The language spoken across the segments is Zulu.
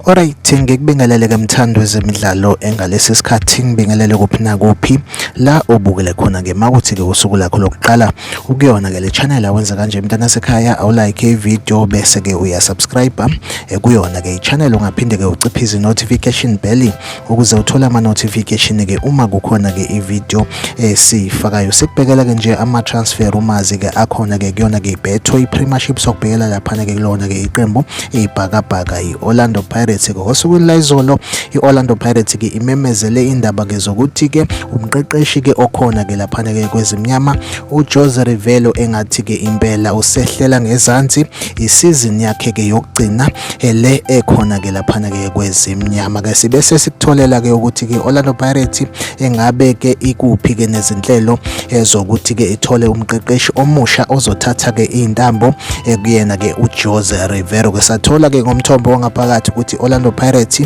Alright ngikubingelele ke mthando wezemidlalo engalesi sikhathi ngibingelele kuphi na kuphi la obukele khona ke makuthi ke usuku lakho lokuqala ukuyona ke le channel awenza kanje mntana sekhaya awu like video bese ke uya subscribe eh, kuyona ke i channel ungaphinde ke uciphe izi notification bell ukuze uthole ama notification ke uma kukhona ke i video esiyifakayo sikubhekela ke nje ama transfer rumors ke akhona ke kuyona ke ibetho i premiership sokubhekela lapha ke kulona ke iqembu ibhakabhaka i Orlando Pirates ke osukwini la izolo i Orlando Pirates ke imemezele indaba ke zokuthi ke umqeqeshi ke okhona ke lapha ke kwezimnyama u Jose Rivello engathi ke impela usehlela ngezansi isizini yakhe ke yokugcina eh, le ekhona ke laphana ke kwezimnyama ke sibe sesikutholela ke ukuthi ke Orlando Pirates engabe ke ikuphi ke nezinhlelo ezokuthi eh, ke ithole umqeqeshi omusha ozothatha ke intambo eh, kuyena ke uJose Rivero ke sathola ke ngomthombo wangaphakathi ukuthi Orlando Pirates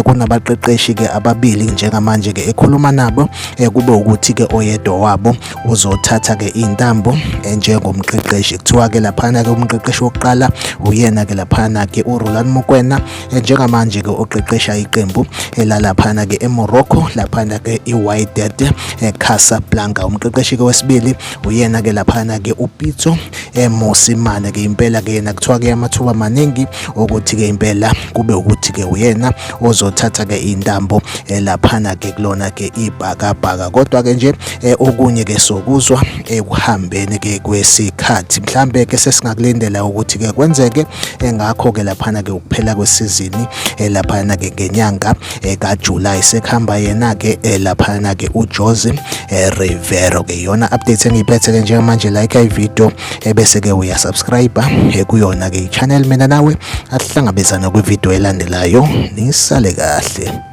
kunabaqeqeshi ke ababili njengamanje ke ekhuluma nabo kube ukuthi ke oyedwa wabo uzothatha ke intambo njengomqeqeshi kuthiwa ke laphana ke umqeqeshi wokuqala uyena ke laphana ke uRoland Mokwena njengamanje ke oqeqesha iqembu elalaphana ke eMorocco laphana ke iWydad Casablanca umqeqeshi ke wesibili uyena ke laphana ke uPitso Mosimane ke impela ke yena kuthiwa ke amathuba maningi ukuthi ke impela kube ukuthi ke uyena ozothatha ke intambo elaphana ke kulona ke ibhakabhaka kodwa ke nje Eh, okunye ke sokuzwa ekuhambeni eh, ke kwesikhathi mhlambe ke sesingakulindela ukuthi ke kwenzeke eh, ngakho ke laphana ke ukuphela kwesizini laphana ke ngenyanga ka July sekuhamba yena ke laphana ke uJose Rivero ke yona update engiyiphethe ke njengamanje like i video ebese ke uya subscribe kuyona ke channel mina nawe asihlangabezana kwi video elandelayo nisale kahle